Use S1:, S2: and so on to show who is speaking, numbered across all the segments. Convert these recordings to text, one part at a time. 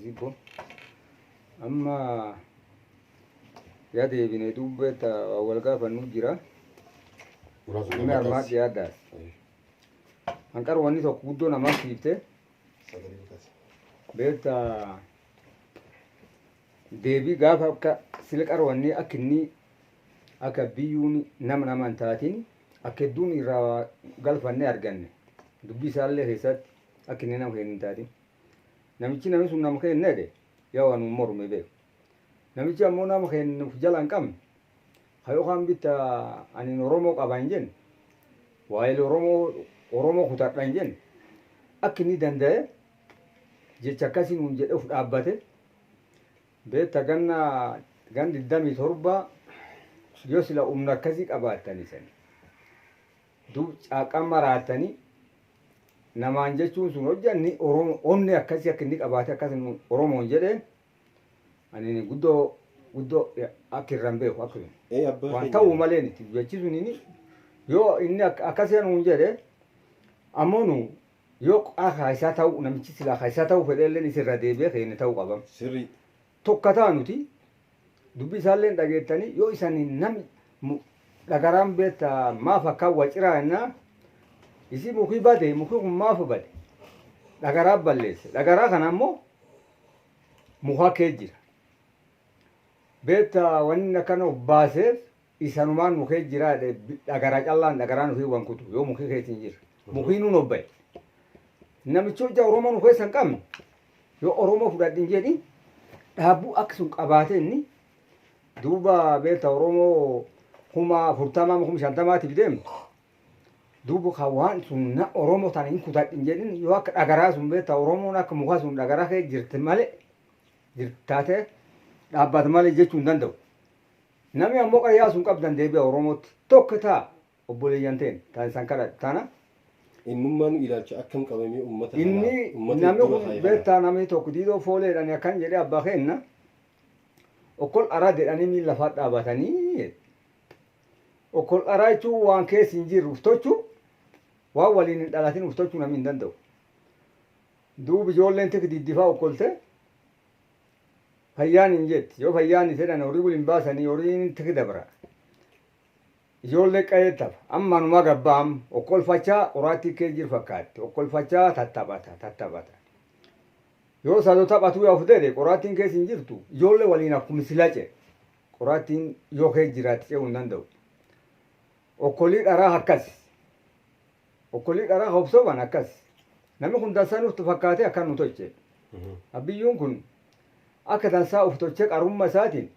S1: Zibo. Amma yaa deebine dubbee ta waan wal gaafannuu jira. Muraasa Namni nama armaan taas. dhiyaaddaas. Ayi. Hanqar wanni tokko guddoo namaaf siifte Sagalee bitaas. beekta deebii gaafa akka silqar wanni akka inni akka biyyuun nama nama hin taatiin akka hedduun irraa galfanne arganne dubbii isaallee keessatti Akka inni nama keennu hin taatin. Namichi nami sun nama keenna jedhe Yihowaa nuun morme beeka. Namichi ammoo nama keenna uf jala hin qabne, ka yookaan bitta anin Oromoo qaba hin jenne, waayil Oromoo Oromoo kutadha hin jenne, akka inni danda'ee jecha akkasii nuun jedhee uf dhaabbate, beetta ganna ganna 27 yoo sila humna akkasii qabaattanii sanii Duub caaqqaan maraattanii namaan jechuun sun hojja ni Oromo onni akkasii akka inni qabaate akkas nu Oromoon jedheen ani ni guddoo guddoo akka irraan beeku akka sun. Ee abbaa Waan keenya. ta'uu malee niti jechi sun inni yoo inni ak- akkasii nuun jedhe ammoo nu yoo qaa kaayisaa ta'uu namichi silaa kaayisaa ta'uu fedheelleen isirra deebi'ee keenya ta'uu qabam. Sirrii.
S2: tokka ta'a nuti
S1: dubbii isaalleen dhageettanii yoo isan nami mu- dhagaraan beetta maaf akkaan waciraa jennaa isii mukii bade mukii kun maaf bade dhagaraa balleesse dhagaraa kana ammoo mukaa kee jira beetta wanni inni akkana of baaseef isanumaan nu kee jiraa dhe dhagaraa callaan dhagaraa nu hin wankutu yoo mukii keetiin jir mukii nu nobbaye namichi hojja oromoo nu keessa hin qabne yoo oromoo fudhadhin jedhi dhaabbuu akka sun qabaate inni duuba beekta oromoo kuma afurtamaa kuma shantamaatiif deemu duuba ka waan sun na oromoo tana hin kutadhin jedhin yoo akka dhagaraa sun beekta oromoon akka mukaa sun dhagaraa kee jirti malee jirtaate dhaabbata malee jechuu hin danda'u. Nami ammo qara yaasun qabdan deebia Oromootti tokk taa obboleeyyan teenna taan isan kadhadhu tana. Innummaanu
S2: ilaalcha akkam qaba mee ummata kana Inni ummata nami
S1: iddura kun kaaye kana. beetta nami tokk Diidoo Foolee jedhani akkan jedhe abba keenna okkol araa jedhani miil lafaa dhaabatani jedhe. Okkol araa jechuun waan keessa hin jirre uf tochu waan waliin hin dhalatin uf tochu nami hin danda'u. Duub ijoolleen tik diddifaa okkolte Fayyaan hin jetti yoo fayyaan hin jedhan horii waliin baasanii horiin tiki dabra. Ijoollee qa'ee tapha. Amma anumaa gabbaa amma okkolfachaa qoraattii kee jir fakkaatti okkolfachaa tattaphata tattaphata. Yoo sado taphatuu yaa of dede qoraattiin kees hin jirtu ijoollee waliin akkuma silaa ce qoraattiin yoo kee jiraatti ce'uu hin danda'u. Okkolii dharaa akkas. Okkolii dharaa ka of soban akkas. Nami kun dansa nuftu fakkaatee akkan nu tolche. Abbiyyuun kun akka dansaa uf tolchee qarumma isaatiin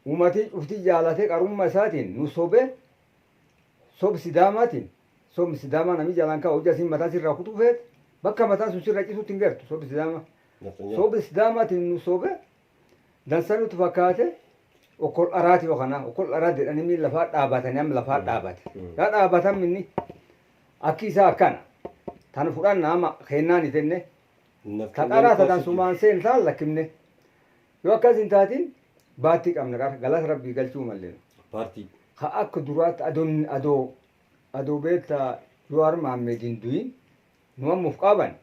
S1: umatii cuftii jaalatee qarumma isaatiin nu sobe sob sidaamaatiin sobn sidaamaa nami jalaan kaa hojja isiin mataa sirraa kutuu feete bakka mataan sun sirra cisuutti hin gertu sobi sidaama. Nafxanyaa. Sobi sidaamaatiin nu sobe Dansa nutti fakkaate okkol dharaati yoo kana okkol dharaa jedhanii miin lafaa dhaabatanii amma lafaa dhaabate. Yaa dhaabatan minni akki isaa akkana tan fudhanna amma kennaan hin fenne Naf ta kennaan dharaa ta koositi. dansumaan seen taan lakkifne yoo akkas hin taatiin baattii qabna qara galata rabbii galchuu malleen. Paartii. Ka
S2: akka
S1: duraatti adoon adoo adoo beektaa Jawaar Maammeed hin du'in Nu amma uf qaaban.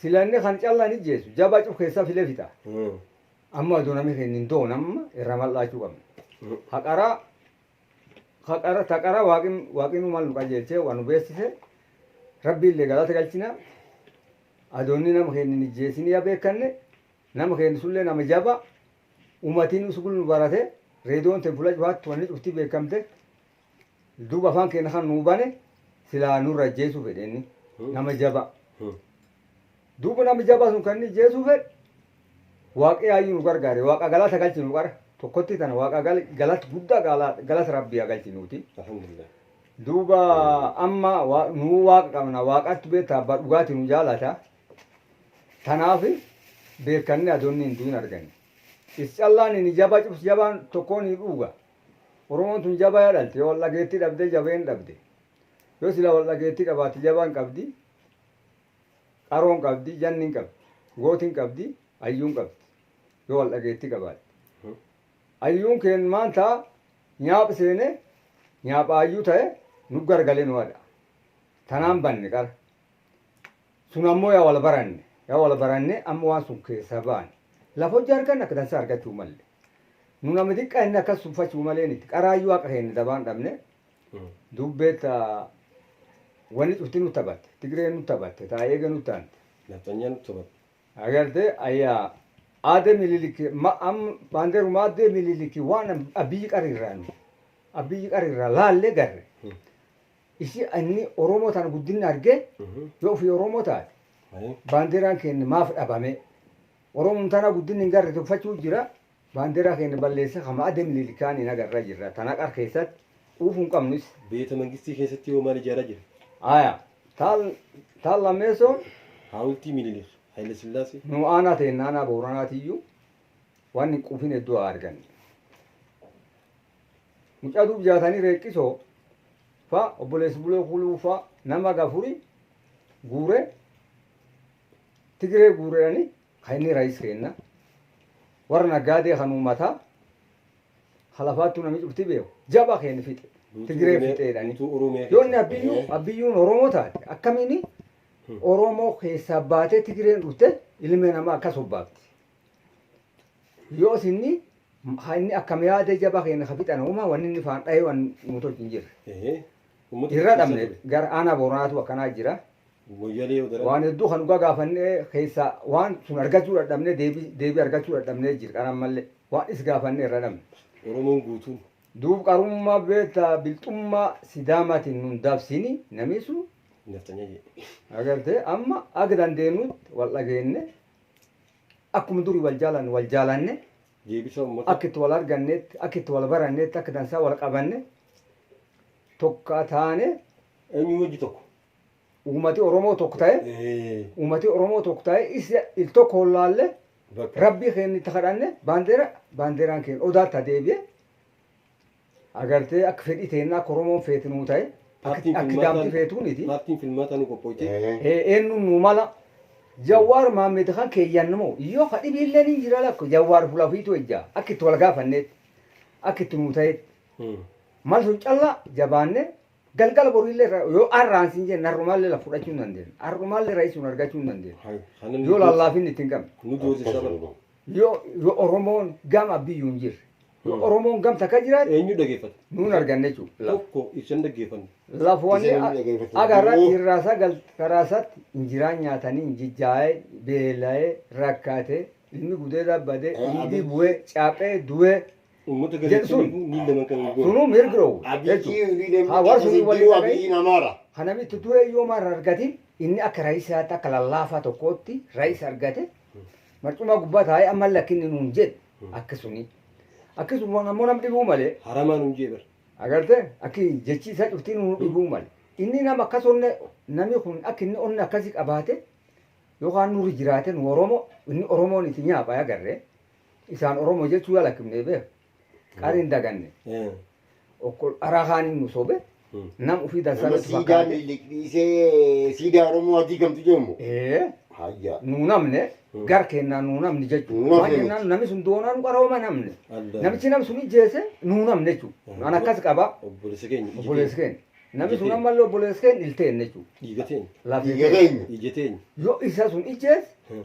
S1: Sila inni kan calla hin ijjeessu. Jabaa cuf keessaa filee fixa. Amma ado nami keenya hin doon amma irra mal dhaachuu qabna. Ha qara ha qara ta qara waaqin waaqinu mal nu qajeelchee waa nu beessise rabbi illee galata galchina. Adoonni nama keenya hin ijjeessinii ya beekanne nama keenya sullee nama jaba umatiin usgul nu barate reedoon ten fula cufaatti wanni cuftii beekamte. Duuba afaan keenna kan nuu bane silaa nu irra ajjeesuu fedhe inni, nama jabaa. Duuba nama jabaa sun kan inni ijjeesuu fedhe, Waaqi yaayyuu nu gargaare, Waaqa galata galchinu qara, tokkotti tana Waaqa galata guddaa galata Rabbii haa galchinuutii. Duuba amma nu Waaqa qabna, Waaqatti beettaa abbaa dhugaatii nu jaalata, tanaaf beekkannee adoo inni hin du'in arganne. Is callaan inni jabaa cufti jabaan tokkoon hin dhuuga. Oromoon tun jabaya dhalte yo waldhageetti dhabde jabeen dhabde yo sila waldhageetti qabaatte jaban qabdi qaroon qabdi jannin qabdi gootin qabdi ayyuun qabdi yo waldhageetti qabaatte ayyuun keen maanta nyaaph seene nyaapha ayyuu taye nuggargale nuhadha tanaan banne qara Sun ammoo ya wal baranne. Ya wal baranne amma waan sun keessaa baane. Lafa hojja arganne akka dansaa argachuu malle. Nu nama diqqaa inni akkas tuffachuu malee miti. Qaraayyuu haqa keenya dabaan dhabne. Dubbee ta wanni cufti nu taphatte. Tigreen nu taphatte. Ta eege nu taante. Nafxanyaan nu taphatte.
S2: Agarte
S1: ayya Aade Miniliki ma am baanderuma Aadde Miniliki waan Abiyyi qara irraa nu Abiyyi qara irraa laallee garre. Isi anni Oromoo tana guddinna arge yo ufi Oromoo taate baandeeraan keenna maaf dhabame? Oromum tana guddinna hin garre tufachuu jira baandeeraa keenna balleesse ka ma'ade Minilik kaan hin agarra jirra tana qar keessatti quufu hin qabnu is. Beeta mangistii keessatti
S2: hoo maal ijaaraa jira? Aya
S1: taal taal lammeessoo. Haawultii
S2: Minilik, Hayila Sillaasee. Nu aanaa teenna aanaa
S1: Booranaa tiyyuu waan hin quufin hedduu haa arganne. Mucaa duub jaatanii reeqqisoo fa obboleessi bulee kuluu fa nama gafuri guure tigiree guureedhani kan inni raayis keenna warra naggaadee kan uummataa halafaattuu namni cufti beeku jaba keen fixe tigiree fixeedhani yoo inni abbiyyuu abbiyyuun oromoo taate akkamiini oromoo keessaa baatee tigireen dhufte ilmi namaa akkas obbaafti. Yoo isinni ha inni akkam yaada jaba keenya ka fixan uuma wanni inni faan dhahee waan nu tolchu hin jirre. Ehee. Uummata Irra fixsiisaa dhabne ture. gara aanaa booranaatu akkanaa jira. Moyyalee yoo daran. Waan hedduu kan dhugaa gaafannee keessaa waan sun argachuu dadhabnee deebii deebii argachuu dadhabnee jira kan ammallee waan is gaafannee irra dhabne. Oromoon guutuun.
S2: Duub qarummaa
S1: beektaa bilxummaa sidaamaatiin nun dabsini namii sun Nafxanyaa jedhe.
S2: agartee amma
S1: akka dandeenyutti wal dhageenne Akkuma duri wal jaalannu wal jaalanne, Deebisa Ummata.
S2: akka itti wal arganneetti,
S1: akka itti wal baranneetti, akka dansaa wal qabanne, tokka taane, Eenyu wajji
S2: tokko. uumati
S1: Oromoo tokko ta'e, Ee. uumati Oromoo tokko ta'e, isa il tokko hollaalle, Bakka. Rabbii keenya itti kadhanne, baandeera, baandeeraan keenya odaatti ha deebi'e. Agartee akka fedhii teennaa akka Oromoon feetu nuu ta'e Paartiin akka filmaataa- daamti feetuu miti. Paartiin filmaataa nu
S2: qophooyte. Ee, Eennuun nuu
S1: mala. Jawwaar Maammed kan keeyyan moo yoo ka dhibiillee ni jira lakko Jawwaar fula ofiitu ejja akka itti wal gaafanneetti akka itti nuu ta'etti. Hmm. Mal sun callaa jabaannee galgala boriillee irra- yoo arraan siin jenne har'umaallee laf fudhachuu hin dandeenyu. Har'umaallee ra'ii sun argachuu hin dandeenyu. Hayo. Kana nu Yoo joorsisa. lallaafinni itti hin qabne. Nu joorsisa bara.
S2: Yoo yoo
S1: Oromoon gama abbiyyuu hin jirre. Yoo Oromoon gam takka jiraate Eenyu dhageeffata? nuun
S2: arganne jechuudha.
S1: Tokko ibsan dhaggeeffanne.
S2: Lafoonni Isa namni
S1: dhaggeeffatu aga irra jiru. dhiirraa sagal karaasatti injiraan nyaatanii injijjaa'ee beela'ee rakkaatee ilmi gudeedaa badee Eh, dhiigii Abiy- bu'ee caaphee du'ee Uummata Jedhu galachiin
S2: sun. eeguu miila
S1: manqan eeguu.
S2: sunuu mirgi dhoowwu
S1: Abiyyi jechuudha. Haa warri sunii waliin dhaga'e Abiyyiin Amaara. kan namitti
S3: du'e yoo
S1: maal argatiin inni akka raayisaatti akka lallaafaa tokkootti raayisa argate marcumaa gubbaa taa'ee amma lakkinni nuun jedhe akkasuni akkasuma waan ammoo nam dhibuu malee Haramaa nuun jee bar.
S2: agarte akki
S1: jechi isaa cuftii nu dhibuu male inni nama akkas onne namni kun akka inni onne akkasi qabaate yookaan nurri jiraate nu oromo inni oromoon itti nyaapha agarre isaan oromo jechuu yaalakimne beeku qaariin daganne Eh. Okkol araa kaaniin nu sobe nam ufii dansaa Nama nutti siidaa fakkaate. miliqliisee
S3: siidaa Oromoo adii gamtu jedhamu. Ee, Hayya. nu namne
S1: Mm. gar kennaa nu namne jechuudha. Nu namne Maal miti. jennaan namni sun doonaa nu qarooma namne. Adda. Namichi nam sun ijjeese nu namne jechuudha. Mm. An akkas qaba Obboleessa keenya ija
S2: obboleessi keenya. keenya.
S1: Namni sun Ijjeteen. ammallee obboleessi keenya ilteen jechuudha. Dhiiga teenya. Lafee Dhiiga
S2: keenya. keenya.
S1: Ija teenya.
S3: Yoo
S2: isa sun
S1: ijjeese Hmm.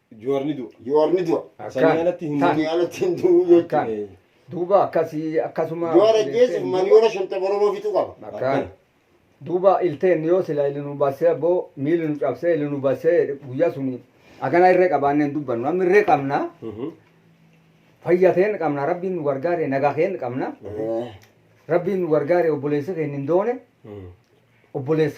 S3: Juwaar ni du'a.
S2: Juwaar ni du'a. Akkaan.
S3: Sanii alatti hin Sanii
S2: du'u. alatti hin du'u jechuudha. Akkaan.
S3: Ee, Duuba
S1: akkasii akkasuma Juwaar ajjeesuuf obboleesseen duuba-
S3: miliyoona shantama Oromoo fixuu qaba. Akkaan.
S1: Duuba ilteen yoo sila ili nu bassee abboo miili nu cabsee ili nu bassee jedhe guyyaa suni akana irree qabaannee hin dubbannu. Amma irree qabna Mhm. fayya ta'een qabna rabbiin nu gargaare nagaa keen qabna Ee. rabbiin nu gargaare obboleessi keenya hin doone Mhm. obboleessi